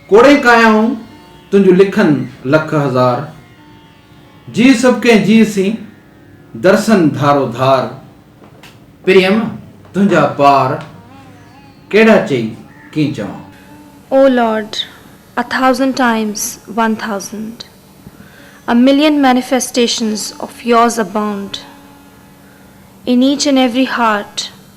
ڪوڙين ڪايائون تنهنجون لکن لک هزار. جيء سڀ ڪنهن جيء سين، درسن ڌارو ڌار. پريم تنهنجا پار، ڪهڙا چئي ڪين چوان. O Lord, a thousand times one thousand, a million manifestations of yours abound in each and every heart.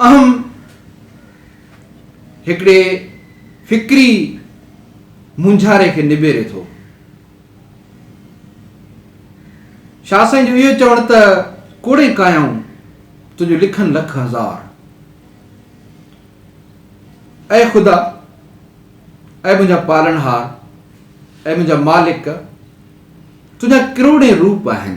اهم هڪڙي فڪري مونجهاري کي نبيري ٿو. شاهه سائين جو اهو چوڻ ته ڪوڙين ڪايائون تنهنجون لکن لک هزار. اي خدا، اي منهنجا پالڻهار، اي منهنجا مالڪ، تنهنجا ڪروڙين روپ آهن.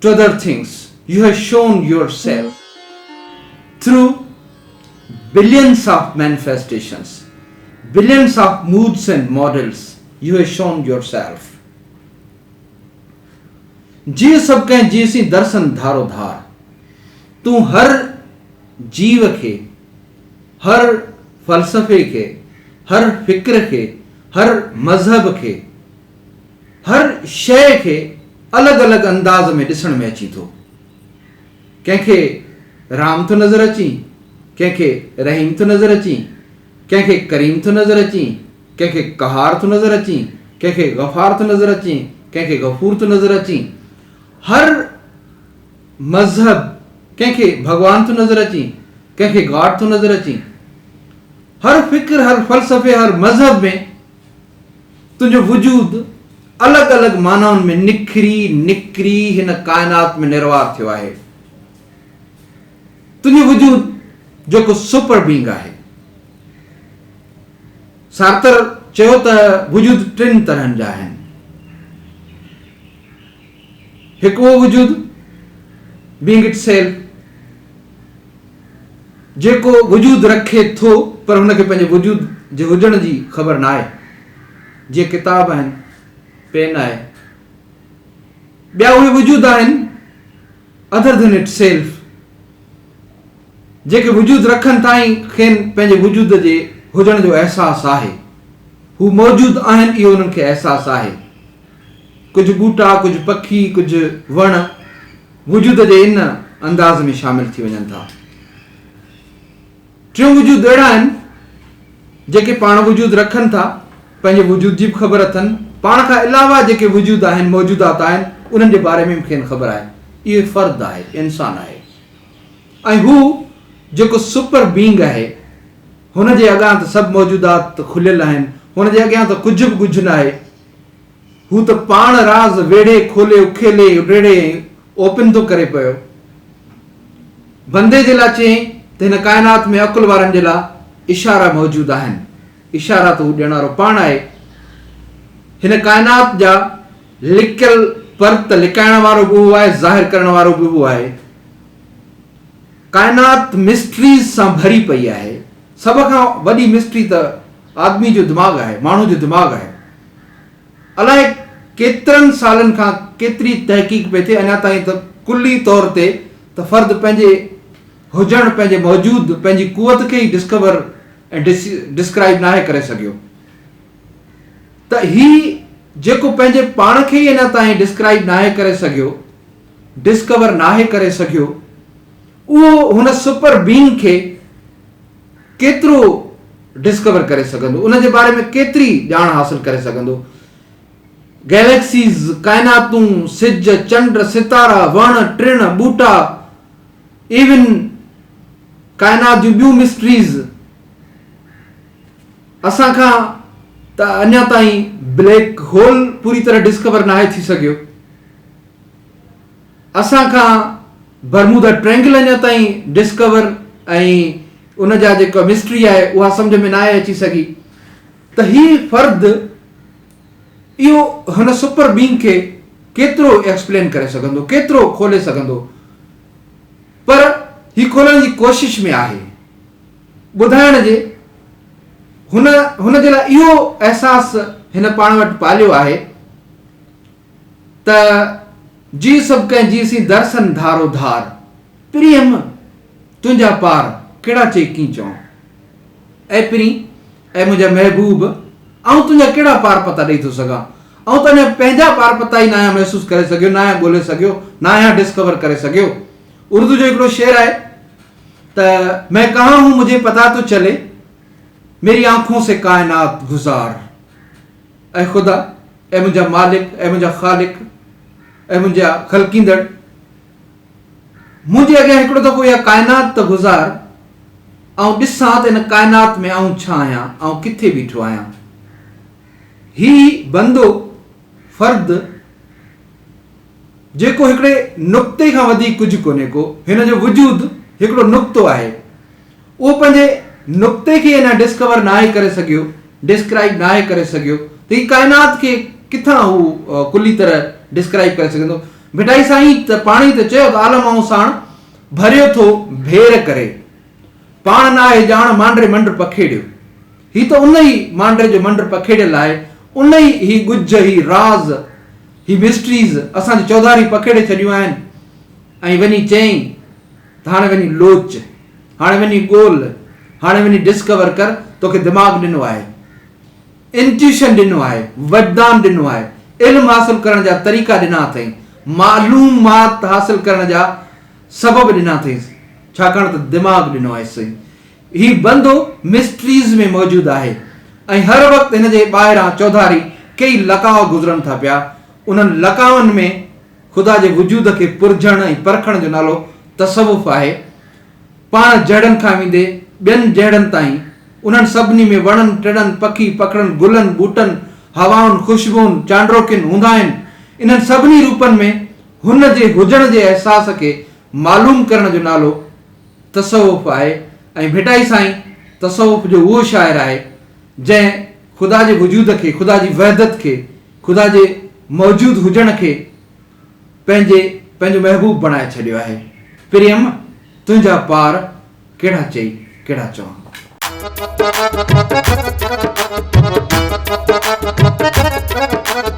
To other things you have shown yourself through billions of manifestations billions of modes and models you have shown yourself جيء سڀ ڪنهن جيء سين درسن ڌارو ڌار تون هر جيو کي هر فلسفي کي هر فڪر کي هر مذهب کي هر شيء کي الڳ الڳ انداز ۾ ڏسڻ ۾ اچين ٿو. ڪنهن کي رام ٿو نظر اچين، ڪنهن کي رحيم ٿو نظر اچين، ڪنهن کي ڪريم ٿو نظر اچين، ڪنهن کي قهار ٿو نظر اچين، ڪنهن کي غفار ٿو نظر اچين، ڪنهن کي غفور ٿو نظر اچين. هر مذهب ڪنهن کي ڀڳوان ٿو نظر اچين، ڪنهن کي گاڊ ٿو نظر اچين. هر فڪر، هر فلسفي، هر مذهب ۾. تنهنجو وجود الڳ الڳ معنائن ۾ نکري نڪري هن ڪائنات ۾ نروار ٿيو آهي. تنهنجو وجود جيڪو سپر بينگ آهي. سارتر چيو ته وجود ٽن طرحن جا آهن. هڪ اهو وجود بينگ اٽ سيلف جيڪو وجود رکي ٿو پر هن کي پنهنجي وجود جي هجڻ جي خبر ناهي. جي ڪتاب آهن، پين آهي، ٻيا اهي وجود آهن Other than its self جيڪي وجود رکن ٿا ۽ کين پنهنجي وجود جي هجڻ جو احساس آهي. هو موجود آهن اهو انهن کي احساس آهي. ڪجهه ٻوٽا، ڪجهه پکي، ڪجهه وڻ. وجود جي ان انداز ۾ شامل ٿي وڃن ٿا. ٽيون وجود اهڙا آهن، جيڪي پاڻ وجود رکن ٿا، پنهنجي وجود جي به خبر اٿن، پاڻ کان علاوه جيڪي وجود آهن، موجودات آهن، انهن جي باري ۾ به کين خبر آهي. اهو فرد آهي، انسان آهي ۽ هو جيڪو سپر بينگ آهي، هن جي اڳان ته سڀ موجودات کليل آهن، هن جي اڳيان ته ڪجهه به ڳجهه ناهي. هو ته پاڻ راز ويڙهي کولي اڪيلي اڊڙي ۽ اوپن ٿو ڪري پيو. بندي جي لاء چيائين ته هن ڪائنات ۾ عقل وارن جي لاء اشارا موجود آهن. اشارا ته هو ڏيڻارو پاڻ آهي. هن ڪائنات جا لڪيل پرت لڪائڻ وارو به اهو آهي، ظاهر ڪرڻ وارو به اهو آهي. ڪائنات مسٽريز سان ڀري پئي آهي. سڀ کان وڏي مسٽري ته آدمي جو دماغ آهي، ماڻهو جو دماغ آهي. الائي ڪيترن سالن کان ڪيتري تحقيق پئي ٿئي اڃا تائين ته ڪلي طور تي ته فرد پنهنجي هجڻ پنهنجي موجود پنهنجي قوت کي ئي ڊسڪور ۽ ڊسڪرائيب ناهي ڪري سگهيو ته هي جيڪو پنهنجي پاڻ کي ئي اڃا تائين ڊسڪرائيب ناهي ڪري سگهيو ڊسڪور ناهي ڪري سگهيو اهو هن سپر بينگ کي ڪيترو ڊسڪور ڪري سگهندو، ان جي باري ۾ ڪيتري ڄاڻ حاصل ڪري سگهندو. گئليڪسيز، ڪائناتون، سج، چنڊ، ستارا، وڻ، ٽڻ، ٻوٽا، ايون ڪائنات جون ٻيون مسٽريز اسان کان ته اڃا تائين بليڪ هول پوري طرح ڊسڪور ناهي ٿي سگهيو. اسان کان برمودا ٽرينگل اڃا تائين ڊسڪور ۽ ان جا جيڪا مسٽري آهي اها سمجهه ۾ ناهي اچي سگهي ته هي فرد اهو هن سپر بينگ کي ڪيترو ايڪسپلين ڪري سگهندو ڪيترو کولي سگهندو پر هي کولڻ جي ڪوشش ۾ آهي ٻڌائڻ جي هن هن جي لاء اهو احساس هن پاڻ وٽ پاليو آهي ته جي سڀ ڪنهن جي سين درسن ڌارو ڌار، پرينهن تنهنجا پار ڪهڙا چئي ڪين چئون. اي پرين، اي منهنجا محبوب، آئون تنهنجا ڪهڙا پار پتا ڏئي ٿو سگهان. آئون ته اڃا پنهنجا پار پتا ئي ناهيان محسوس ڪري سگهيو، ناهيان ڳولي سگهيو، ناهيان ڊسڪور ڪري سگهيو. اردو جو هڪڙو شعر آهي ته مين ڪهان هون مجهي پتا تو چلي، ميري آنکون سي ڪائنات گذار. اي خدا، اي منهنجا مالڪ، اي منهنجا خالق، اي منهنجا خلقيندڙ! منهنجي اڳيان هڪڙو دفعو اها ڪائنات ته گذار، آئون ڏسان ته ان ڪائنات ۾ آئون ڇا آهيان، آئون ڪٿي بيٺو آهيان. هي بندو، فرد، جيڪو هڪڙي نقطي کان وڌيڪ ڪجهه ڪونهي ڪو، هن جو وجود هڪڙو نقطو آهي. اهو پنهنجي نقطي کي اڃا ڊسڪور ناهي ڪري سگهيو، ڊسڪرائيب ناهي ڪري سگهيو ته هي ڪائنات کي ڪٿان هو ڪلي طرح ڊسڪرائيب ڪري سگهندو. ڀٽائي سائين ته پاڻ ئي ته چيو ته عالم آئون ساڻ ڀريو ٿو ڀير ڪري. پاڻ ناهي ڄاڻ مانڊري منڊ پکيڙيو. هي ته ان ئي مانڊري جو منڊ پکيڙيل آهي، ان ئي هي ڳجهه، هي راز، هي مسٽريز اسان جون چوڌاريون پکيڙي ڇڏيون آهن. ۽ وڃي چيائين ته هاڻي وڃي لوچ، هاڻي وڃي ڳول، هاڻي وڃي ڊسڪور ڪر، توکي دماغ ڏنو آهي، انٽيوشن ڏنو آهي، وجدان ڏنو آهي، علم حاصل ڪرڻ جا طريقا ڏنا اٿئي، معلومات حاصل ڪرڻ جا سبب ڏنا اٿئي، ڇاڪاڻ ته دماغ ڏنو آهيسئي. هي بندو مسٽريز ۾ موجود آهي ۽ هر وقت هن جي ٻاهران چوڌاري ڪيئي لقاء گذرن ٿا پيا. انهن لقائن ۾ خدا جي وجود کي پرجهڻ ۽ پرکڻ جو نالو تصوف آهي. پاڻ جهڙن کان ويندي ٻين جهڙن تائين، انهن سڀني ۾ وڻن ٽڻن، پکي پکڙن، گلن ٻوٽن، هوائن، خوشبوئن، چانڊروڪين هوندا آهن. انهن سڀني روپن ۾ هن جي هجڻ جي احساس کي معلوم ڪرڻ جو نالو، تصوف آهي ۽ ڀٽائي سائين تصوف جو اهو شاعر آهي جنهن خدا جي وجود کي، خدا جي وحدت کي، خدا جي موجود هجڻ کي پنهنجي پنهنجو محبوب بڻائي ڇڏيو آهي. پريم تنهنجا پار ڪهڙا چئي ڪهڙا چوان.